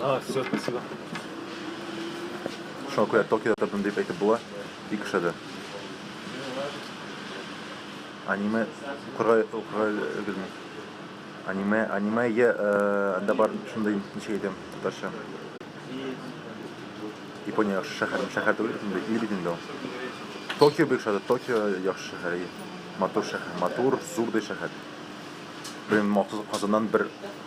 А, все, спасибо. Шуңа күрә Токиода тордым дип әйтеп була. Бик ошады. Аниме укырга укырга өлгерми. Аниме, аниме я э, анда бар шундый ничек әйтәм татарча. Япония яхшы шәһәр, шәһәр түгел бит инде, ил бит инде ул. Токио бик ошады. Токио яхшы шәһәр. Матур шәһәр, матур, зурдый шәһәр. Блин, махсус Казаннан бер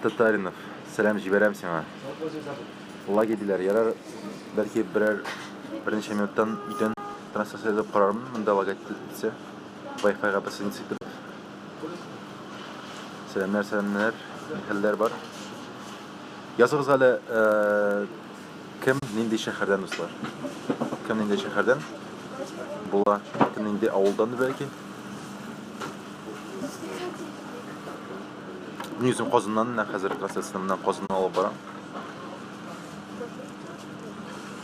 Татаринов, сәлам җибәрәм сиңа. Лагерь диләр, ярар, бәлки берәр берничә минуттан өйдән трансляция язып карармын, монда лагать итсә. Wi-Fi-га присоединиться итеп. Сәламнәр, сәламнәр, нихәлләр бар? Языгыз әле, э, кем нинди шәһәрдән дуслар? Кем нинди шәһәрдән? Була, кем нинди авылдан бәлки? Мин үзем Казаннан, менә хәзер трансляцияне менә Казаннан алып барам.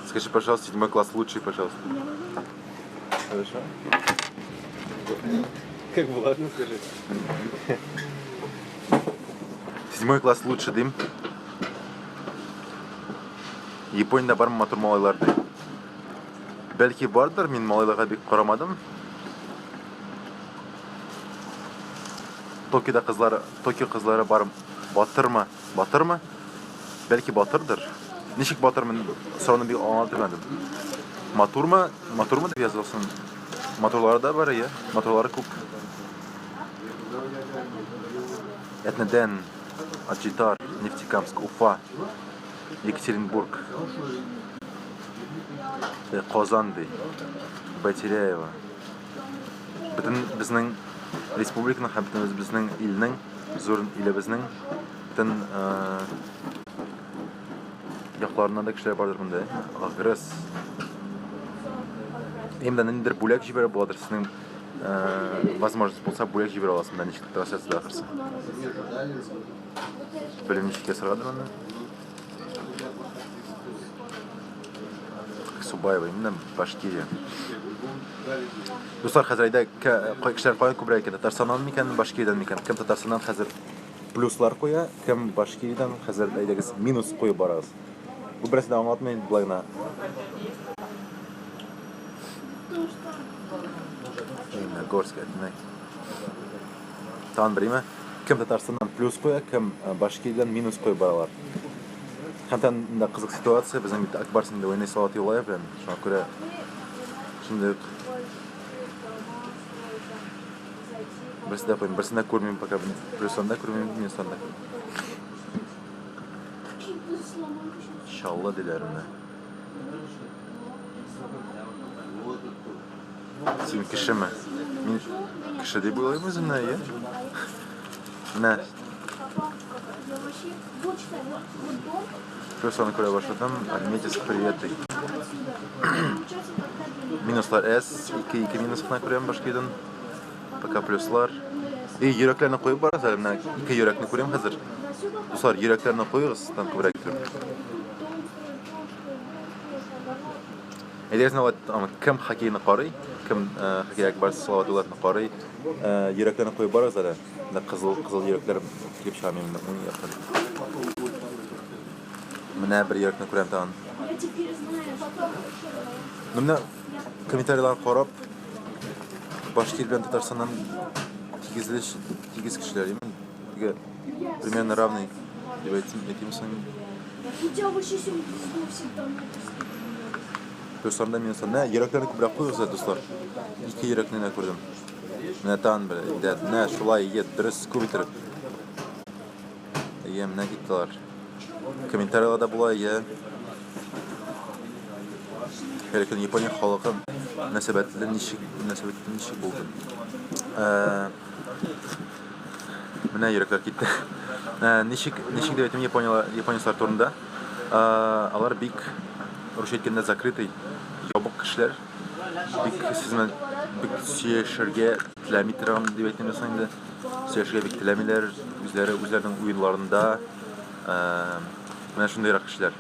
Скажи, пожалуйста, седьмой класс лучший, пожалуйста. Хорошо? Как влажно скажи. Седьмой класс лучше дим. Япониядә бармы матур малайлар ди. Бәлки бардыр, мин малайларга бик карамадым. Токида кызлары, Токио кызлары бар батырмы? Батырмы? Бәлки батырдыр. Ничек батырмын? Сорауны бик аңлап белмәдем. Матурмы? Матурмы дип язылсын. Матурлары да бар, иә. Матурлары күп. Этнеден, Аджитар, Нефтекамск, Уфа, Екатеринбург, Казан, Байтеряева. бөтен безнең республиканың һәм бөтен үзебезнең илнең, зур илебезнең бөтен якларыннан да кешеләр бардыр монда. Агрес. Именно ниндидер бүләк җибәрә буладыр сезнең возможность булса бүләк җибәрә аласыз монда ничек трансляциядә ахырсы. Белмичә ясарга да монда. Субаева, именно Башкирия. Дуслар, хәзер әйдә, кай кешеләр кая күбрәк икән? Татарстаннан микән, Башкириядән микән? Кем Татарстаннан хәзер плюслар куя, кем Башкириядән хәзер әйдәгез минус куеп барыгыз. Бу берсе дә аңлатмый инде былайна. Именно Горск, әтнәк. Тагын бер име? Кем Татарстаннан плюс куя, кем э, Башкириядан минус куеп баралар. Һәм тән да кызык ситуация, безнең бит Акбарс инде уйный Салават Юлаев белән. Шуңа күрә шундый Берсен дә куймыйм, берсен дә күрмим пока бен. Плюстан да күрмим, минустан да күрмим. Шалла диләр менә. Син кешеме? Мин кеше дип уйлыйм үземне, әйе. Менә. Кроссаны күрә башладым. Метис привет ди. Минуслар S, 2, 2 минус кына күрәм башка иден. Пока плюслар. И, йөрәкләрне куеп барыз әле, менә ике йөрәкне күрәм хәзер. Дуслар, йөрәкләрне куегыз, там күбрәк Әйдә сезне алай тотамыз. Кем хоккейны карый, кем э, хоккей Акбарс Салаватуллаевны карый, э, йөрәкләрне куеп барыгыз әле. Менә кызыл кызыл йөрәкләр килеп чыга минем уң яктан. Менә бер йөрәкне күрәм тагын. Ну, Менә комментарийлар карап, баш тир белән Татарстаннан тигезле тигез кешеләр имин. Тегә примерно равный дип әйтсен, әйтимсең. Хотя бы сейчас он пиздил всегда мне Дусларымда мин дуслар. Менә йөрәкләрне күбрәк куйгызлар, дуслар. Ике йөрәкне генә күрдем. Менә тан бер, дә, менә шулай егет, дөрес күп иттереп. Әйе, менә киттеләр. Комментарийларда була, әйе. Һәр көн Япония халкы мөнәсәбәтле ничек мөнәсәбәтле ничек булды? Э, Менә йөрәкләр китте. Ә, ничек, ничек дип әйтим япониялар, японецлар турында? Ә, алар бик русча әйткәндә закрытый, ябык кешеләр. Бик сез белән бик сөйләшергә теләми торган дип әйтим дә соң инде. Сөйләшергә бик теләмиләр, үзләре үзләренең уеннарында. Ә, менә шундыйрак кешеләр.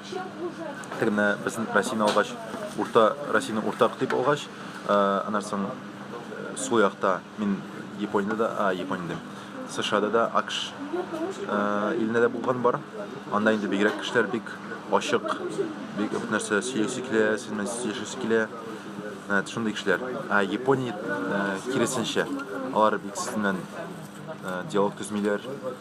Теге менә безнең Россияне алгач, урта Россияне уртак дип алгач, ә, аннан соң э, сул якта Мин Япониядә дә, а, Япония дим. США-да да, АКШ э, илендә дә булган бар. Анда инде бигрәк кешеләр бик ачык, бик күп нәрсә сөйләсе килә, сез белән сөйләшәсе килә. Ә, Шундый кешеләр. Ә Япония э, киресенчә, алар бик сез белән э, диалог төзмиләр.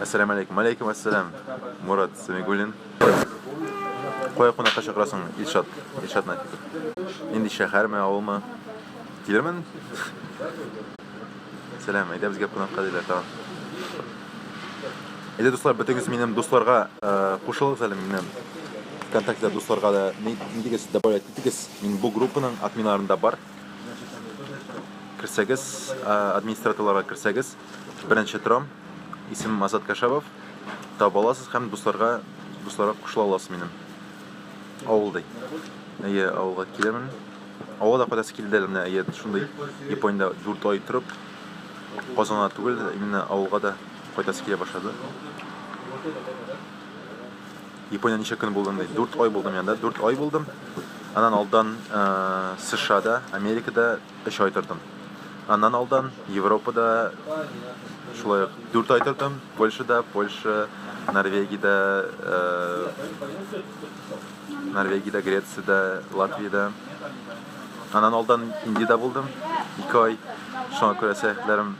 Әссәламу алейкум. Алейкум әссәлам. Мурат Сәмигуллин. Кая кунакка чакырасың, Илшат? Илшат Нафиков. Нинди шәһәрме, авылмы? Килермен. Сәлам, әйдә безгә кунакка диләр тагын. Әйдә дуслар, бетегез минем дусларга э, кушылыгыз әле минем ВКонтакте дусларга да нидегез добавлять итегез. Мин бу группаның админларында бар. Керсәгез, администраторларга керсәгез, беренче торам, исемем Азат Кашабов. Таба аласыз һәм дусларга дусларга кушыла аласыз минем. Авыл ди. Әйе, авылга киләмен. Авылда кадәс килде әле менә, әйе, шундый Япониядә 4 ай торып, Казанга түгел, именно авылга да кайтасы килә башлады. Япония ничә көн булдың ди? Дүрт ай булдым янда, дүрт ай булдым. Аннан алдан э, США-да, Америкада өч ай тордым. Аннан алдан Европада шулай ук дүрт ай тордым. Польшада, Польша, Норвегияда, э, Норвегияда, Грецияда, Латвияда. Аннан алдан Индиядә булдым, ике ай. Шуңа күрә сәяхәтләрем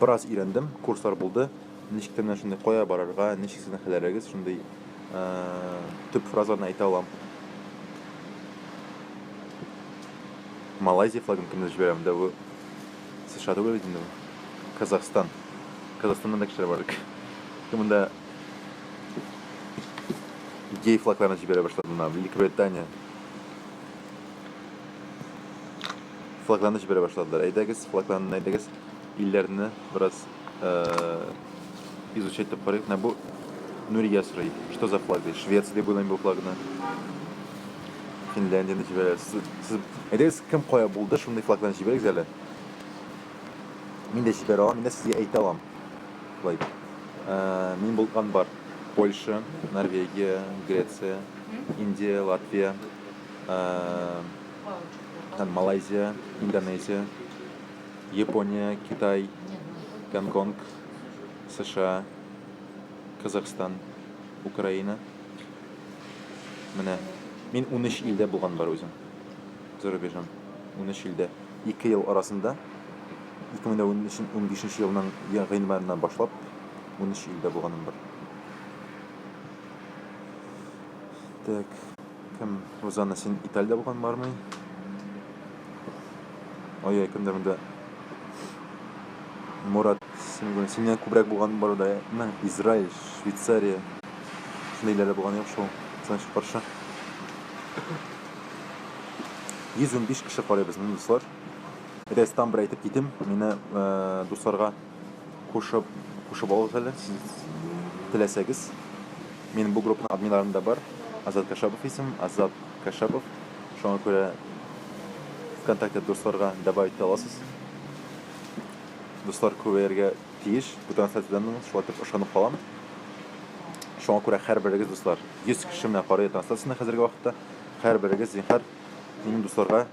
Бераз өйрәндем, курслар булды. Ничек тә менә шундый кая барырга, ничек сезнең хәлләрегез, шундый э, төп фразаларны әйтә алам. Малайзия флагын кемдер җибәрәм дә бу США түгел бит инде бу. Казахстан. Казахстаннан да кешеләр бар бит. Кем монда гей флагларын җибәрә башлады мына Великобритания. флагланыч бирә башладылар. Әйдәгез, флагланны әйдәгез, илләрне бераз изучать итеп карыйк. Менә бу Нурия сорый, что за флаг ди? Швеция дип уйлыйм бу флагны. Финляндияне җибәрә. Сез әйдәгез, кем кая булды, шундый флагланы җибәрегез әле. Мин дә җибәрә алам, мин дә сезгә әйтә алам. Болай. Э, мин булган бар. Польша, Норвегия, Греция, Индия, Латвия, э, там малайзия индонезия япония китай гонконг сша казахстан украина менә мин унөч илдә булган бар үзем зарубежам унөч илдә ике ел арасында ике мең дә унбишенче елның гыйнварыннан башлап унөч илдә булганым бар Так, кем Розана син Италиядә булган бармый? Ой, ой, кемдер монда Мурат синең синнән күбрәк булган бар да, мен Израиль, Швейцария. Шундыйларда булган юк шул. Сәнче каршы. 115 кеше карыйбыз, мин дуслар. Рәстам бер әйтеп китим, мине э, дусларга кушып кушып алыгыз әле сез теләсәгез мин бу группаның админларын да бар азат кашапов исем азат кашапов шуңа күрә вконтакте дусларга добавить итә аласыз дуслар күбәяргә тиеш бу трансляциядән шулай итеп ышанып калам шуңа күрә һәрберегез дуслар 100 кеше менә карый трансляцияне хәзерге вакытта һәрберегез зинһар минем дусларга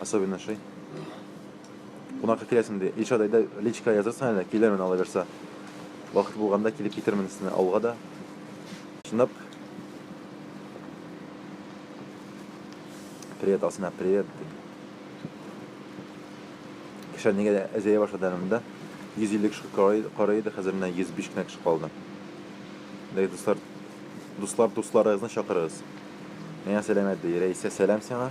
Особенно шей. Кунакка киләсең ди. Илшат әйдә личка язырсың әле, килермен алайберса. Вакыт булганда килеп китермен сезне авылга да. Чынлап. Привет, Алсина, привет. Кеше нигә дә әзәя башлады әле монда. 150 кеше карый иде, хәзер менә 105 кенә кеше калды. Дәй дуслар, дуслар дусларыгызны чакырыгыз. Миңа сәламәт ди. Рәисә, сәлам сиңа.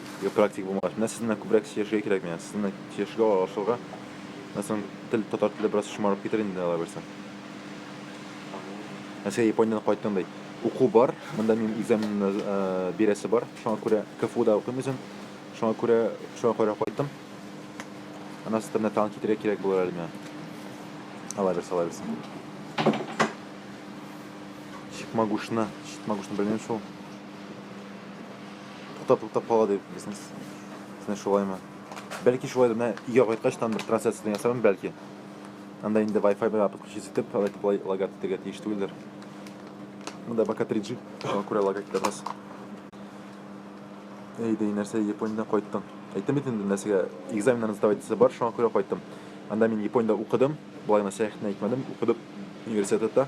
Юк, практик булмагач. Менә сезнең күбрәк сөйләшергә кирәк миңа. Сезнең сөйләшергә аралашырга. Менә соң тел татар теле бераз шомарып китер инде алай булса. Әсә Япониядән кайттың ди. Уку бар. Монда минем экзамен э, бирәсе бар. Шуңа күрә КФУда укыйм үзем. Шуңа күрә шуңа күрә кайттым. Анасы тәмле тагын китерә кирәк булыр әле миңа. Алай берсе, алай берсе. Чикмагушны, чикмагушны белмим шул. туктап туктап кала дип бизнес сен шулаймы бәлки шулай да менә өйгә кайткач там бер трансляция ясармын бәлки анда инде wi-fi белән подключить итеп алай итеп лагать итәргә тиеш түгелдер монда пока 3G шуңа күрә лагать итәрбез әй дей нәрсә япониядән кайттың әйтәм бит инде нәрсәгә экзаменнарны сдавать итәсе бар шуңа күрә кайттым анда мин япониядә укыдым былай гына сәяхәтне әйтмәдем укыдым университетта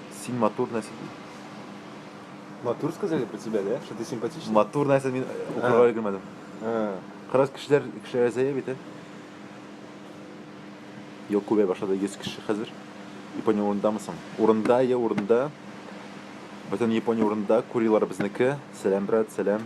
Син матур нәрсә ди. Матур сказали про тебя, да? Что ты симпатичный? Матур нәрсә мин укырга өлгермәдем. Кырыс кешеләр кешеләр әзәя бит, ә? Юк, күбәй башлады 100 кеше хәзер. Япония урындамысың? Урында, я урында. Бөтен Япония урында, курилар безнеке. Сәлам, брат, сәлам.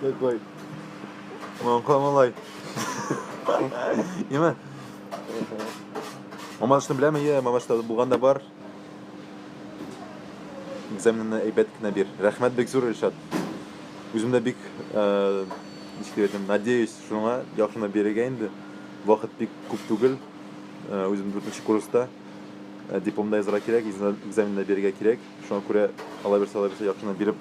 Такой. Мамка малай. Имә. Мамашны беләме? Йә, мамашта булган да бар. Экзаменны әйбәт кенә бир. Рәхмәт бик зур Илшат. Үзем дә бик э, ничек әйтәм, надеюсь, шуңа яхшына бирергә инде. Вакыт бик күп түгел. Э, Үзем 4 курста. Э, Дипломда язарга кирәк, экзамен- экзаменда бирергә кирәк. Шуңа күрә алаберса алаберса яхшына биреп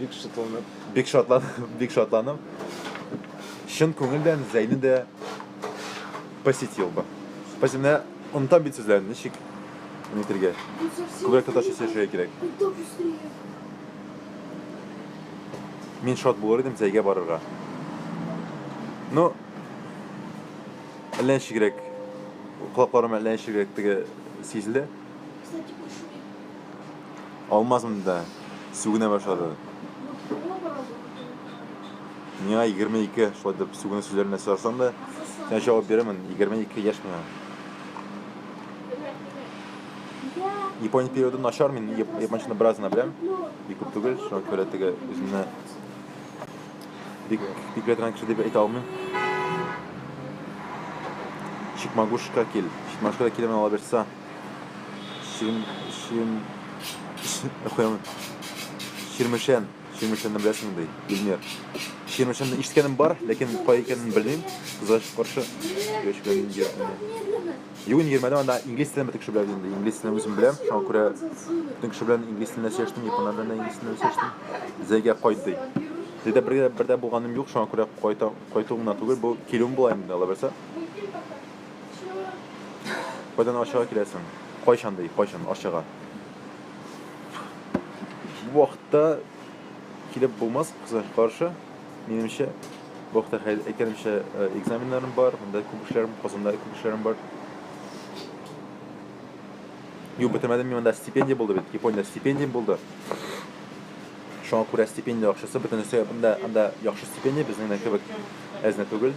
Бик шатланып. Бик шатланып, бик шатланып. Чын күңелдән Зәйне дә посетил бы. Спасибо. Менә онытам бит сүзләрен, ничек нитергә. Күбрәк татарча сөйләшергә кирәк. Мин шат булыр идем Зәйгә барырга. Ну, әллә ничегрәк, колакларым әллә ничегрәк теге сизелә. Алмаз монда сүгенә башлады. Миңа 22 шулай дип сүгенү сүзләренә сорасаң да, сиңа җавап бирәмен, 22 яшь миңа. Япония периоды начар, мин япончаны бераз гына беләм, бик күп түгел, шуңа күрә теге үземне бик бик белә кеше дип әйтә алмыйм. Чикмагушка кил, чикмагушка килемен ала бирсә. Чирм... Чирм... Чирм... Чирмешән. Чирмешәнне беләсең ди, Илмир. Чирмешәнне ишеткәнем бар, ләкин кай икәнен белмим. Кызгач каршы. Яшь белән инде ятмый. Юк, инде йөрмәдем, анда инглиз телен бөтен кеше белә инде. Инглиз телен үзем беләм, шуңа күрә бөтен кеше белән инглиз телендә сөйләштем, японнар белән дә инглиз телендә сөйләштем. Зәйгә кайт ди. Зәйдә бергә бердә булганым юк, шуңа күрә кайта, кайтуым гына түгел, бу килүем була инде, алабаса. Кайдан Арчага киләсең? Кайчан ди, кайчан Арчага? Бу вакытта килеп булмас, кызлар каршы. Минемчә, бу вакытта әйткәнемчә э, экзаменнарым бар, монда күп эшләрем, Казанда күп эшләрем бар. Юк, бетермәдем мин монда стипендия булды бит, Япониядә стипендия булды. Шуңа күрә стипендия акчасы бөтенесе анда анда яхшы стипендия, безнең кебек әзне түгел.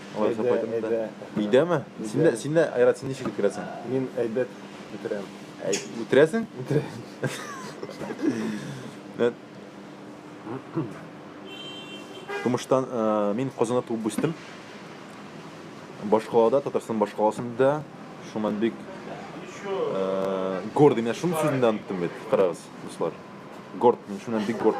Алай исәп кайтырмын да. Әйдә, әйдә. Өйдәме? Син дә, син дә, Айрат, син ничек үткәрәсең? Мин әйбәт үтерәм. Әй, үтерәсең? Тумыштан мин Казанда туып үстем. Башкалада, Татарстан башкаласында, шуннан бик гордый. Менә шуның сүзен дә оныттым бит, карагыз, дуслар. Горд, мин шуннан бик горд.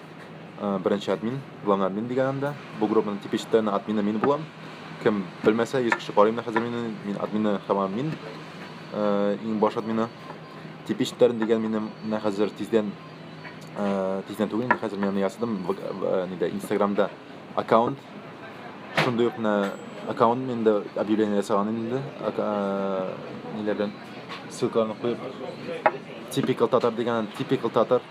Э, беренче админ, главный админ дигән анда. Бу группаның типичтән админы мин булам. Кем белмәсә, 100 кеше карыйм да хәзер мине, мин админы һәм админ. Э, иң баш админы. Типичтән дигән минем менә хәзер тиздән э, тиздән түгел, инде хәзер мин ясадым нидә Инстаграмда аккаунт. Шундый ук менә аккаунт миндә объявление ясаган инде. Ниләрдән ссылкаларны куеп. Typical татар дигән, typical татар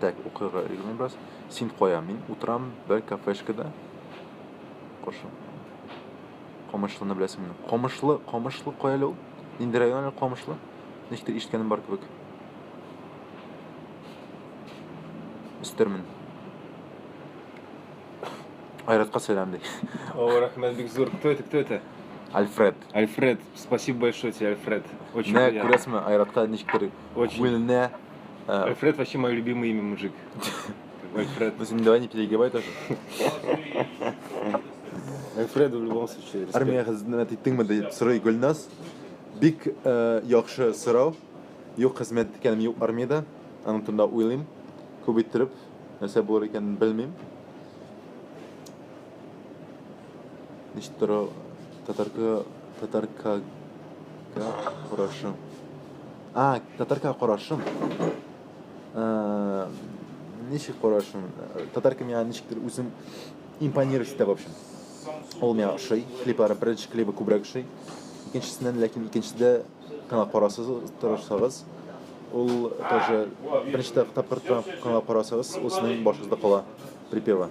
Так, укырга өлгермим бераз. Син кая? Мин утырам бер кафешкада. Кошы. Камышлыны беләсеңме? Камышлы, Камышлы кая әле ул? Нинди район әле Камышлы? Ничектер ишеткәнем бар кебек. Өстермен. Айратка сәлам ди. О, рахмет, бик зур. Кто это, кто это? Альфред. Альфред, спасибо большое тебе, Альфред. Очень Менә приятно. күрәсеңме, Айратка ничектер Очень. күңеленә Альфред вообще мое любимое имя, мужик. Альфред. Ну, Зим, давай не перегибай тоже. Альфреду в любом случае. респект. Армия хезмәт иттеңме дип сорый Гөлназ. Бик э, яхшы сорау. Юк хезмәт иткәнем юк армиядә. Аның турында уйлыйм. Күп иттереп, нәрсә булыр икәнен белмим. Ничек тора татарка татаркага карашы. А, татарка карашым. Э, ничек карашым? Татарка миңа ничектер үзен импонировать итә, в общем. Ул миңа ошый, клиплары, беренче клибы күбрәк ошый. Икенчесеннән, ләкин икенчедә канал карасыз, тырышсагыз, ул тоже беренче тапкыр канал карасагыз, ул сезнең башыгызда кала припева.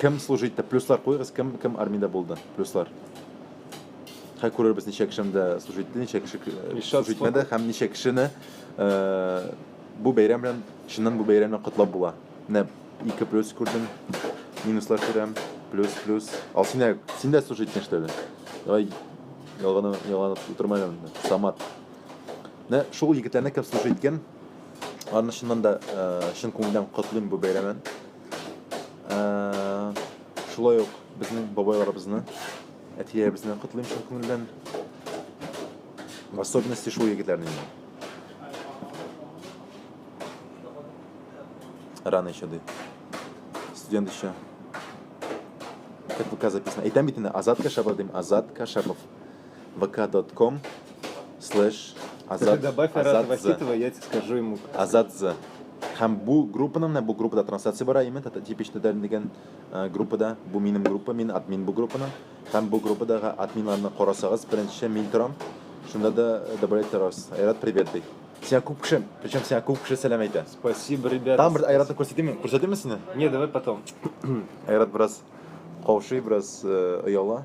Кем служи итте? Плюслар куйыгыз, кем кем армиядә булды? Плюслар. Хәй күрербез ничә кешемдә служи итте, ничә кеше служи итмәде һәм ничә кешене бу бәйрәм белән чыннан бу бәйрәм белән котлап була. Менә 2 плюс күрдем. Минуслар күрәм. Плюс плюс. Ал син дә син дә служи иттең что ли? Давай ялганы ялганы утырма әле. Самат. Менә шул егетләрне кем служи иткән? Аны чыннан да чын күңелдән котлыйм бу бәйрәмен. шулай ук безнең бабайларыбызны әтиләребезне котлыйм чын күңелдән в особенности шул егетләрне рано еще ди студент еще как пока записано әйтәм бит инде азат кәшапов дим азат кәшапов vk.com слэш Азат Добавь Азат Вахитова, я тебе скажу ему. Азат З. Һәм бу группаның менә бу группада трансляция бара, именно типичный дигән э, группада, бу минем группа, мин админ бу группаның. Һәм бу группадагы админларны карасагыз, беренче мин торам. Шунда да э, добавлять торасыз. Айрат, привет ди. Сиңа күп кеше, причем сиңа күп кеше сәлам әйтә. Спасибо, ребята. Там бер Айратны күрсәтимме? Күрсәтимме сине? Не, давай потом. Айрат бераз каушый, бераз э, ояла.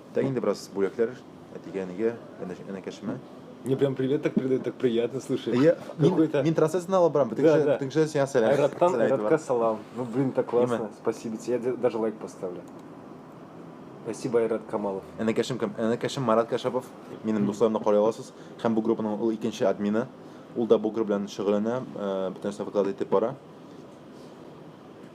Да инде бераз бүләкләр әтигә, әнигә, әнә- әнәкәшемә. Мне прям привет так передает, так приятно слышать. Я, мин, Какой-то- мин трансляцияне алып барам, бөтен Да, кеше, да. бөтен кеше сиңа сәлам. Айраттан, сәлам әйтеп Айратка бара. салам. Ну, блин, так классно. Имя? Спасибо тебе. Я де- даже лайк поставлю. Спасибо, Айрат Камалов. Әнәкәшем кем? Әнәкәшем Марат Кәшәпов. Минем дусларымны карый аласыз. Һәм бу группаның ул икенче админы. Ул да бу группа белән шөгыльләнә, э, бөтен нәрсә выклад итеп бара.